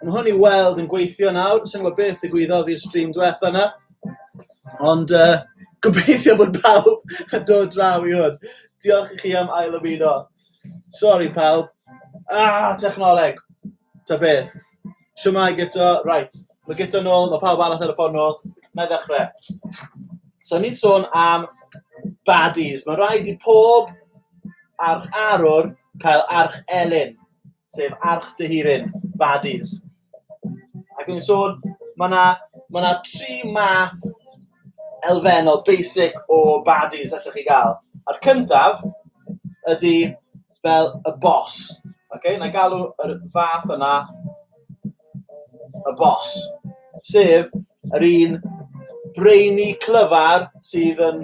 Mae hwn i weld yn gweithio nawr, yn sengwa beth y gwyddodd i'r stream diwetha yna. Ond uh, gobeithio bod pawb yn dod draw i hwn. Diolch i chi am ail ymuno. Sorry pawb. Ah, technoleg. Ta beth. Siwmai gyto, right. Mae gyto nôl, mae pawb arall ar y ffordd nôl. Na i ddechrau. So, ni'n sôn am baddies. Mae rhaid i pob arch arwr cael arch elyn. sef Arch dy Hurin, Baddies. Ac yn sôn, mae yna ma na tri math elfennol, basic o baddies allwch chi gael. A'r cyntaf ydy fel y boss. Okay? Na galw yr fath yna y boss, sef yr un brainy clyfar sydd yn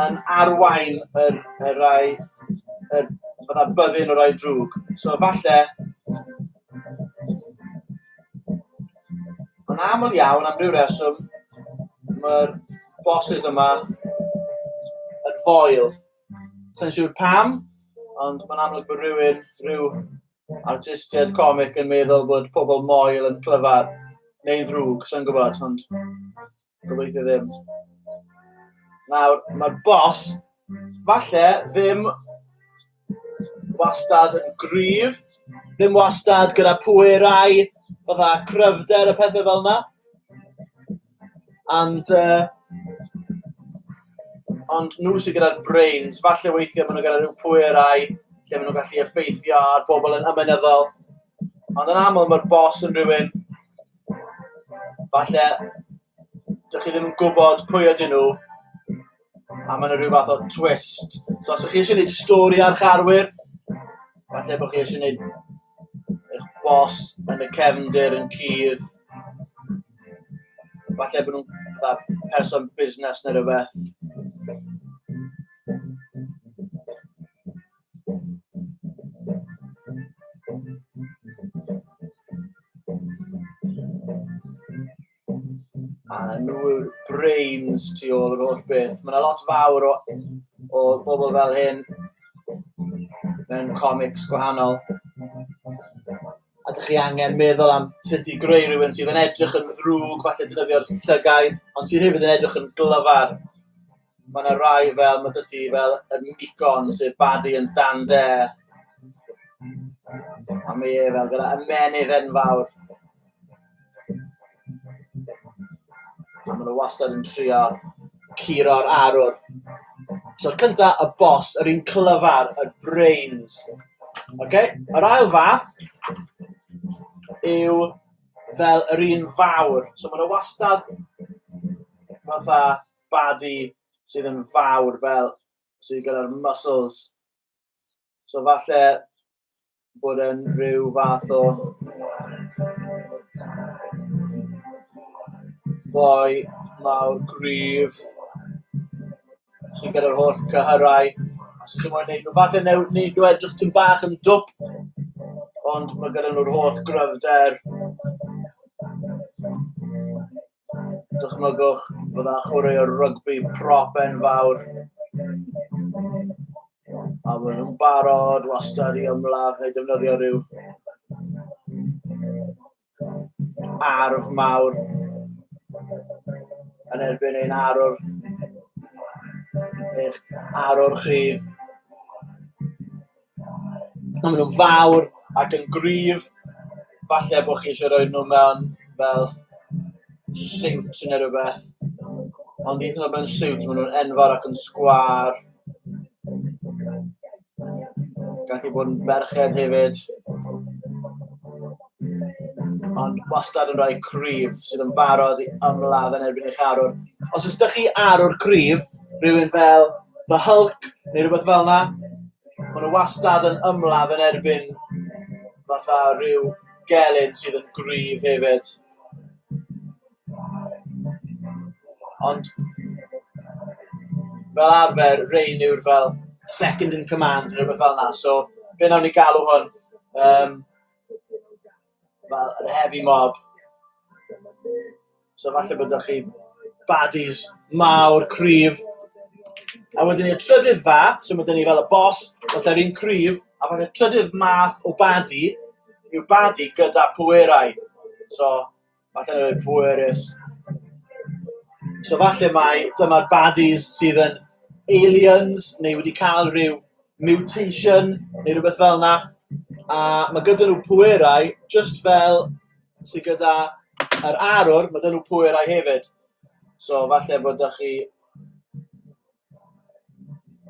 yn arwain yr y rhai y fatha byddin y rhai drwg. So falle... Ond aml iawn, am ryw reswm, mae'r bosses yma yn foel. Sa i'n siŵr pam, ond mae'n amlwg bod rhywun, rhyw artistiaid comic yn meddwl bod pobl moel yn clyfar neu'n ddrwg, sy'n gwybod, ond gobeithio ddim. Nawr, mae'r bos, falle, ddim wastad yn gryf, ddim wastad gyda pwerau, fydda cryfder a pethau fel yna. And uh, ond nhw sydd gyda'r brains, falle weithiau maen nhw gyda rhyw pwerau lle maen nhw'n gallu effeithio ar bobl yn ymenyddol. Ond yn aml mae'r bos yn rhywun, falle, dych chi ddim yn gwybod pwy ydyn nhw, A mae yna rhyw fath o twist. So os ydych chi eisiau gwneud stori ar charwyr, falle bod chi eisiau gwneud eich bos yn y cefndir yn cudd. Falle bod nhw'n person busnes neu rhywbeth. A nhw yw'r brains tu ôl yr holl beth. Mae yna lot fawr o, o bobl fel hyn mewn comics gwahanol. A dych chi angen meddwl am sut i greu rhywun sydd yn edrych yn ddrwg, falle dynyddio'r llygaid, ond sydd hefyd yn edrych yn glyfar. Mae 'na rai fel, ma' 'da ti fel y Minicorn, sef Bardi yn Dan Dare. A mae e fel gyda ymennydd enfawr. A maen nhw wastad yn trio curo'r arwr. So cynta, y boss, yr un clyfar, y brains. Okay? Yr ail fath yw fel yr un fawr. So maen nhw wastad fatha badi sydd yn fawr fel sydd gyda'r muscles. So falle bod yn rhyw fath o boi mawr gryf sydd gyda'r holl cyhyrau. Os ydych chi'n mwyn neud nhw, falle neu, neud nhw edrych tyn bach yn dwp, ond mae gyda nhw'r holl gryfder. Dychmygwch bod yna chwaraewr rygbi prop enfawr a maen nhw'n barod wastad i ymladd neu defnyddio rhyw arf mawr yn erbyn ein arwr eich arwr chi Maen nhw'n fawr ac yn gryf, falle bo' chi isio rhoi nhw mewn fel siwt neu rywbeth, ond hyd yn o'd mewn siwt ma' nhw'n enfawr ac yn sgwâr. Gallu bod yn ferched hefyd. Ond wastad yn rhoi cryf sydd yn barod i ymladd yn erbyn eich arwr. Os ys da chi arwr cryf, rhywun fel The Hulk neu rhywbeth fel yna, maen nhw wastad yn ymladd yn erbyn fatha rhyw gelyn sydd yn gryf hefyd. Ond fel arfer, Rain yw'r fel second in command neu rhywbeth fel yna, so fe wnawn ni galw hwn. Um, Wel, yr heavy mob. So falle bod chi baddies mawr, cryf. A wedyn ni'r trydydd fath, so mae dyn ni fel y boss, fatha'r un cryf, a wedyn y trydydd math o baddie yw baddie gyda pwerau. So... Falle yn rhoi pwerus. So falle mai dyma'r baddies sydd yn aliens neu wedi cael rhyw mutation neu rhywbeth fel 'na, a ma' gyda nhw pwerau jyst fel sy gyda yr arwr, ma' 'da nhw pwerau hefyd. So falle bod 'da chi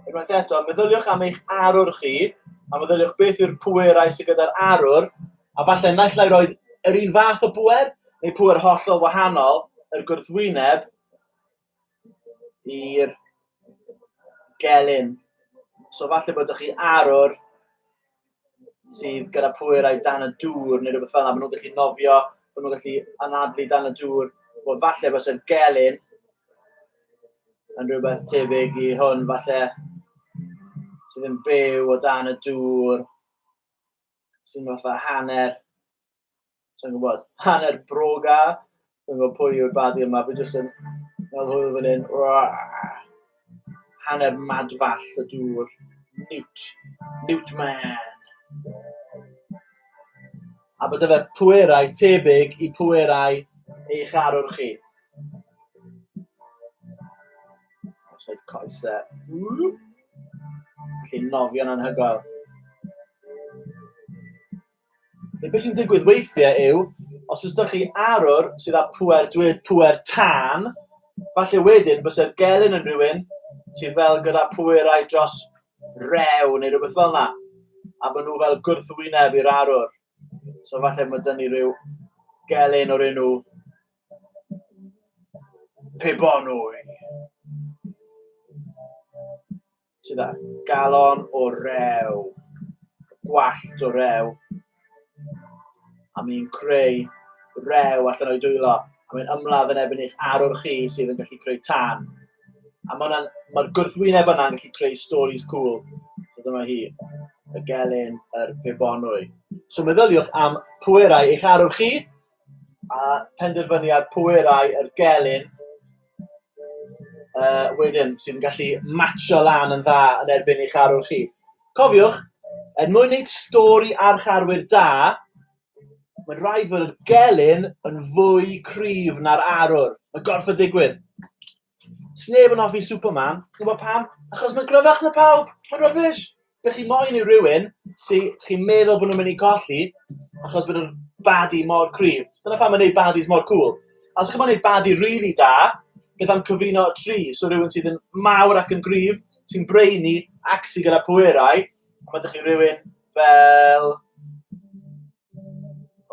Unwaith eto, meddyliwch am eich arwr chi, a meddyliwch beth yw'r pwerau sydd gyda'r arwr, a falle naill ai roed yr un fath o bwer, neu pwer hollol wahanol, yr gwrthwyneb i'r gelyn. So falle bod chi arwr sydd gyda pwerau dan y dŵr neu rhywbeth fel yna, maen nhw'n gallu nofio, maen nhw'n gallu anadlu dan y dŵr. Wel, falle bod y gelyn yn rhywbeth tebyg i hwn, falle sydd yn byw o dan y dŵr, sy'n fatha hanner Sa'n gwybod. Hanner bro ga. Dwi'n gwybod pwy yw'r badi yma. Fi jyst yn meddwl hwyl fan hyn. Hanner madfall y dŵr. Newt. Newt man. A bod efe pwerau tebyg i pwerau eich arwr chi. Os wneud coesau. Felly nofio'n anhygoel. Neu beth sy'n digwydd weithiau yw, os ydych chi arwr sydd â pŵer, dweud pŵer tân, falle wedyn byse'r gelyn yn rhywun sydd fel gyda pwerau dros rew neu rhywbeth fel yna, a maen nhw fel gwrthwyneb i'r arwr. So falle mae dyn ni rhyw gelyn o'r enw Pebonwy. Ti dda. Galon o rew. Gwallt o rew. A mi'n creu rew allan o'i dwylo. A mi'n ymladd yn ebyn eich arwr chi sydd yn gallu creu tân. A mae'r ma gwrthwyneb yna'n gallu creu stories cool. So dyma hi, y gelyn, yr pebonwy. So meddyliwch am pwerau eich arwr chi, A penderfyniad pwerau yr gelyn uh, wedyn sy'n gallu matcho lan yn dda yn erbyn eich arwr chi. Cofiwch, er mwyn wneud stori arch arwyr da, mae'n rhaid bod yr gelyn yn fwy cryf na'r arwr. Mae gorff y digwydd. Sneb yn hoffi Superman. Chi'n gwybod pam? Achos mae'n gryfach na pawb. Mae'n rubbish. Be chi moyn yw rhywun sy chi'n meddwl bod nhw'n mynd i colli achos bod yr baddie mor cryf. Dyna pham mae'n neud baddies mor cŵl. A os chi'n gwybod neud baddie rili da, beth am cyfuno y tri? So rhywun sydd yn mawr ac yn gryf, sy'n brainy ac sy gyda pwerau, a ma' 'da chi rywun fel...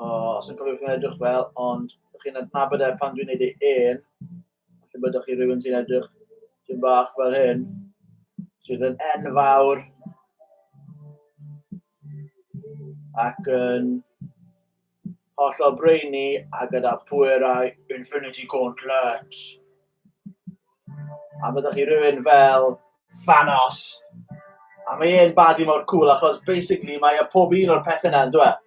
O, sa i'n cofio beth mae'n edrych fel, ond chi'n adnabod e pan dwi'n neud ei ên. Felly byddwch chi rhywun sy'n edrych sy'n bach fel hyn, sydd yn enfawr ac yn hollol brainy a gyda pwerau Infinity Gauntlet. A byddwch chi rhywun fel Thanos. A mae e'n badi mor cool achos basically mae e pob un o'r pethau yna yn dweud.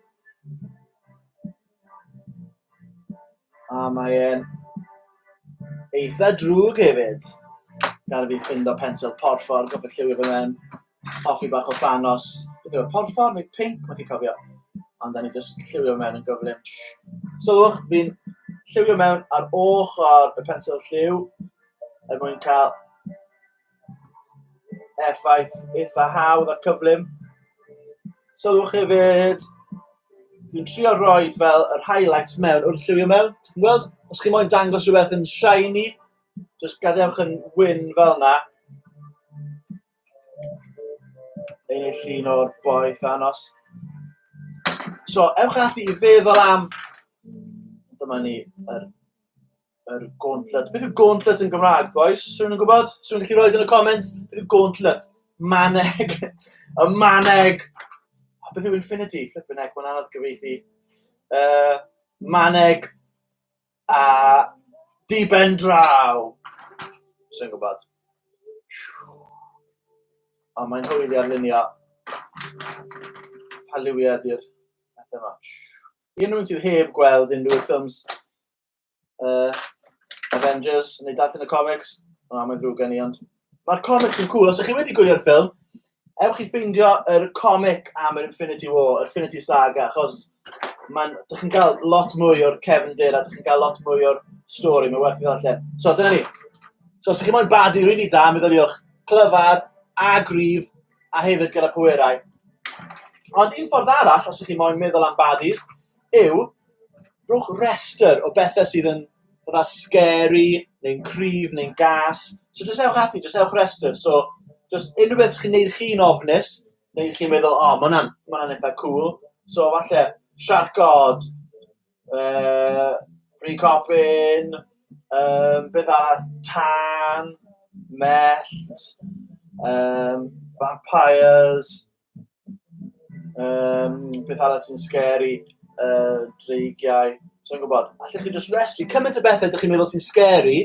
A mae e'n eitha drwg hefyd. Gad i fi ffind o pensil porffor, gorfod lliwio fe mewn. Hoffi bach o Thanos. Beth yw e, porffor neu pinc? Methu cofio. Ond da ni jyst lliwio mewn yn gyflym. Sylwch, fi'n lliwio mewn ar ochr y pensil lliw er mwyn cael effaith eitha hawdd a cyflym. Sylwch hefyd, dwi'n trio roi fel yr highlights mewn wrth lliwio mewn. Ti'n gweld? Os chi moyn dangos rhywbeth yn shiny, jyst gadewch yn wyn fel yna. Ein ei llun o'r boeth anos. So, ewch ati i feddwl am... Dyma ni yr Yr gauntlet. Beth yw gauntlet yn Gymraeg, boys? Swn yn gwybod? Swn yn gallu rhoi yn y comments? Beth yw gauntlet? Maneg. y maneg. A beth yw infinity? Flippin' heck, mae'n anodd gyfeithi. Uh, maneg a diben draw. Swn yn gwybod. A mae'n hwyli ar lunio. Pa liwiau ydy'r pethau yma? I unrhyw un sydd heb gweld unrhyw ffilms uh, Avengers, neu darllen y comics. O, mae'n ddrwg gen i, ond... Mae'r comics yn cool. Os ydych chi wedi gwylio'r ffilm, ewch i ffeindio yr comic am yr Infinity War, yr Infinity Saga, achos mae'n... Dych chi'n cael lot mwy o'r Kevin Dyr, a dych chi'n cael lot mwy o'r stori, mae'n werth i ddod allan. So, dyna ni. So, os ydych chi'n moyn badi rwy'n i da, meddyliwch clyfar a grif, a hefyd gyda pwerau. Ond un ffordd arall, os ydych chi'n moyn meddwl am badis, yw, rhowch rhestr o bethau sydd yn fatha scary neu'n cryf neu'n gas. So jyst ewch ati, jyst ewch rhestr. So jyst unrhyw beth chi'n neud chi'n ofnus, neu chi'n meddwl, o, ma' wnna'n ma' wnna'n eitha cŵl. So falle siarc od, yy bri copaon, yym beth arall, tân, mellt, yym vampires. Um, beth arall sy'n scary? Uh, dreigiau. So'n gwybod. Allech chi just restri cymaint o bethau ydych chi'n meddwl sy'n scary.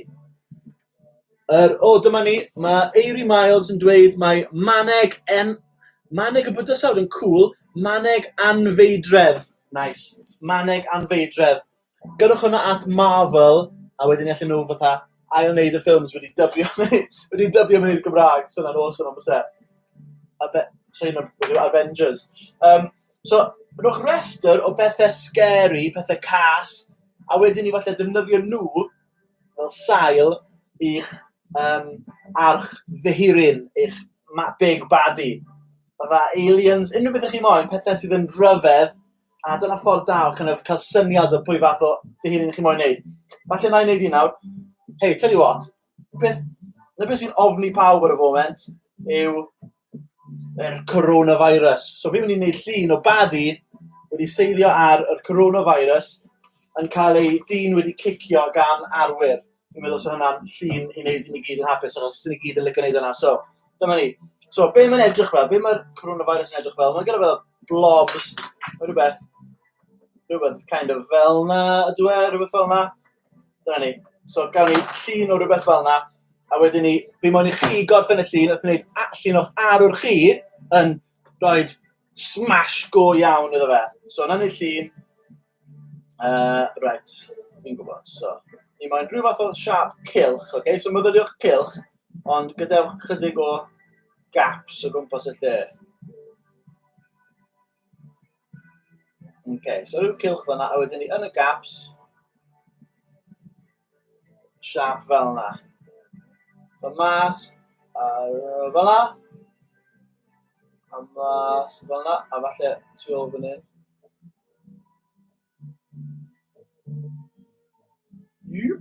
Er, o, oh, dyma ni. Mae Eiri Miles yn dweud mae maneg en... Maneg y bydysawd yn cool. Maneg anfeidredd. Nice. Maneg anfeidredd. Gyrrwch hwnna at Marvel a wedyn 'ny allen nhw fatha ail-wneud y ffilms wedi dybio fe wedi dybio fe i'r Gymraeg, 'sa wnna'n awesome on' byse? A be'... Sori ma' be' yw Avengers? Yym so rhowch rester o bethe scary, pethe cas, a wedyn 'ny falle defnyddio nw fel sail i'ch yym arch fy hun, eich ma- big baddie. Fatha aliens, unryw bethe chi moyn, pethe sydd yn rhyfedd A dyna ffordd da o kind of cael syniad o pwy fath o dihun chi'n moyn wneud. Falle na i wneud i nawr. Hei, tell you what, beth, na beth sy'n ofni pawb ar y foment yw yr coronavirus. So fi'n mynd i wneud llun o badi wedi seilio ar y coronavirus yn cael ei dyn wedi cicio gan arwyr. Dwi'n meddwl 'sa hwnna'n llun i wneud i ni gyd yn hapus achos 'sa ni gyd yn licio wneud hwnna. So, dyma ni. So, be mae'n edrych fel? Be mae'r coronavirus yn edrych fel? Mae'n gyda fel blobs, o rywbeth, rywbeth kind of fel 'na ydyw e, rywbeth fel 'na. Dyna ni. So, gawn ni llun o rywbeth fel 'na, a wedyn ni, fi moyn i chi gorffen y llun wrth wneud a- llun o'ch arwr chi yn rhoi smash go iawn iddo fe. So, 'na ni llun. Uh, right, fi'n gwybod, so. Ni moyn rhyw fath o siap cilch, oce? Okay? So myfyriwch cilch, ond gadewch chydig o gaps o gwmpas y lle. Oce, okay, so rhyw cilch fyna, a wedyn ni yn y gaps, siâp fel 'na. So mas, a fel 'na. A mas fel 'na, a falle tu ôl fan hyn. Jop.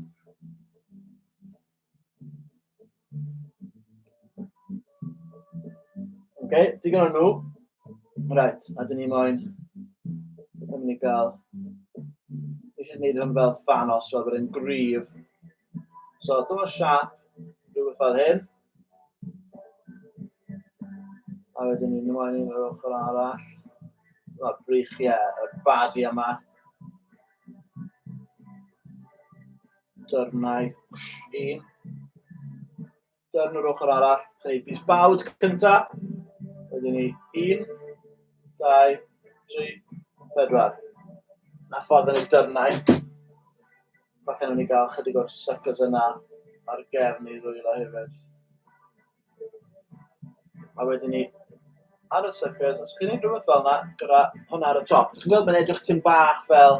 OK, digon o nhw. Right, a dyn ni moyn yn mynd i gael... Fi eisiau gwneud hwn fel fanos, fel bod e'n gryf. So, dyma siap, rhywbeth fel hyn. A wedyn ni'n ymwneud i'n yr ochr arall. Dyma brych, ie, yeah, y badi yma. Dyrnau. Un. Dyrn yr ochr arall. Creu bus bawd cynta. Wedyn ni. Un. Dau. Tri. Pedwar. Na ffordd yn ei dyrnau. Falle nhw'n ei gael chydig o'r suckers yna ar gefn ei ddwylo hefyd. A wedyn ni ar y suckers, os chi'n ei rhywbeth fel yna, gyda hwnna ar y top. Dwi'n gweld bod edrych tyn bach fel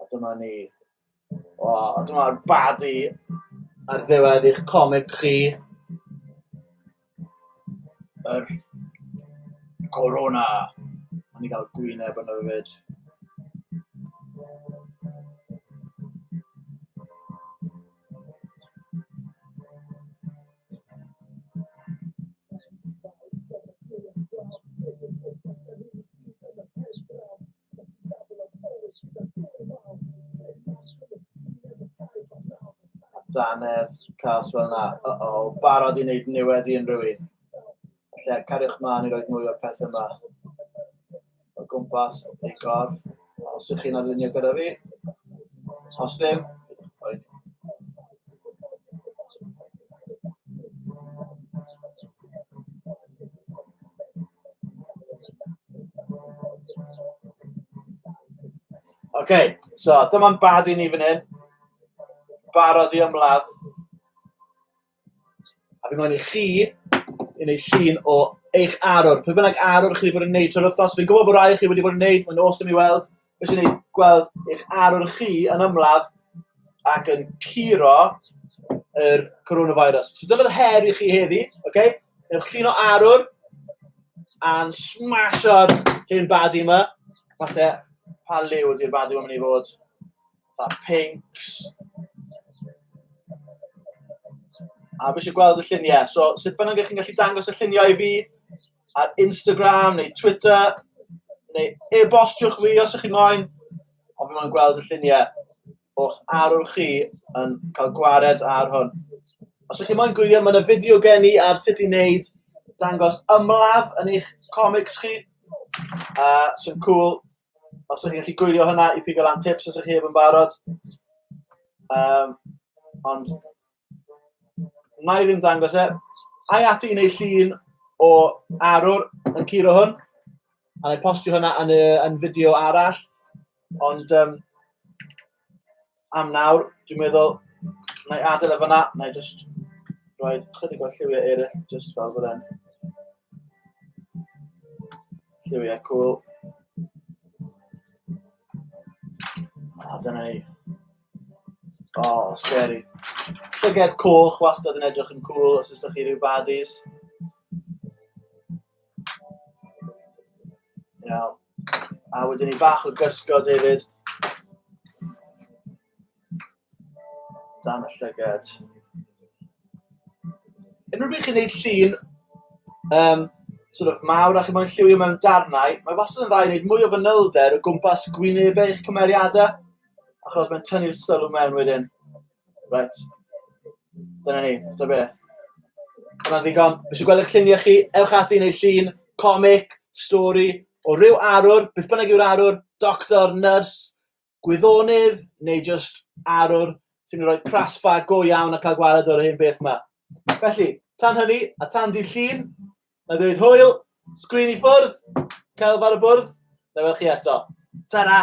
A dyma ni. O, a dyma'r badi ar ddiwedd eich comic chi. Yr Corona. A ni gael gwyneb yno fyd. Danedd, cas fel yna. Uh oh, barod i wneud niwedd i unrhyw un. Lle, cariwch mlaen i roi mwy o'r peth yma. O gwmpas, ei gorff. Os ych chi'n arlunio gyda fi. Os ddim, okay, so dyma'n bad i ni fan hyn. Barod i ymladd. A fi'n gofyn i chi i wneud llun o eich arwr. Pwy bynnag arwr chi wedi bod yn wneud trwy'r wythnos. Fi'n gwybod bod rhai chi wedi bod yn wneud, mae'n awesome i weld. Felly ni gweld eich arwr chi yn ymladd ac yn curo yr coronavirus. So dyna'r her i chi heddi, oce? Okay? Ewch llun o arwr a'n smash ar hyn badi yma. Falle pa liw ydy'r badi yma'n mynd i fod. Fatha pinks. A fi eisiau gweld y lluniau. So, sut bynnag ych chi'n gallu dangos y lluniau i fi ar Instagram neu Twitter, neu e-bostiwch fi os ych chi'n moyn, ond fi moyn gweld y lluniau o'ch arwr chi yn cael gwared ar hwn. Os ych chi'n moyn gwylio, mae yna fideo gen i ar sut i wneud dangos ymladd yn eich comics chi. Uh, sy'n cool. os ydych chi'n gallu gwylio hynna i pigo lan tips os ydych chi heb yn barod. Um, ond na i ddim dangos e. Ai ati i wneud llun o arwr yn curo hwn. A na i postio hynna yn, y, yn fideo arall. Ond um, am nawr. Dwi'n meddwl, na i adael e fanna, na i just rhoi chydig o lliwiau eraill, just fel bod e'n lliwiau cool. A dyna ni. O, oh, scary. Llyged coch wastad yn edrych yn cool os ydych chi rhyw baddies. You know. A wedyn ni bach o gysgod hefyd. Dan y llygad. Unrhyw beth chi'n gwneud llun, um, sort of mawr a chi moyn lliwio mewn darnau, mae wastad yn dda i wneud mwy o fanylder o gwmpas gwynebau eich cymeriadau, achos mae'n tynnu'r sylw mewn wedyn. Right. Dyna ni, dyna beth. Dyna ddigon. Fi eisiau gweld eich lluniau chi. Ewch ati i wneud llun, comic, stori, o ryw arwr, beth bynnag yw'r arwr, doctor, nyrs, gwyddonydd, neu just arwr sy'n rhoi prasfa go iawn a cael gwared o'r hyn beth yma. Felly, tan hynny, a tan dydd llun, Na i ddweud hwyl, sgrin i ffwrdd, celf ar y bwrdd, na fel chi eto. Ta-ra!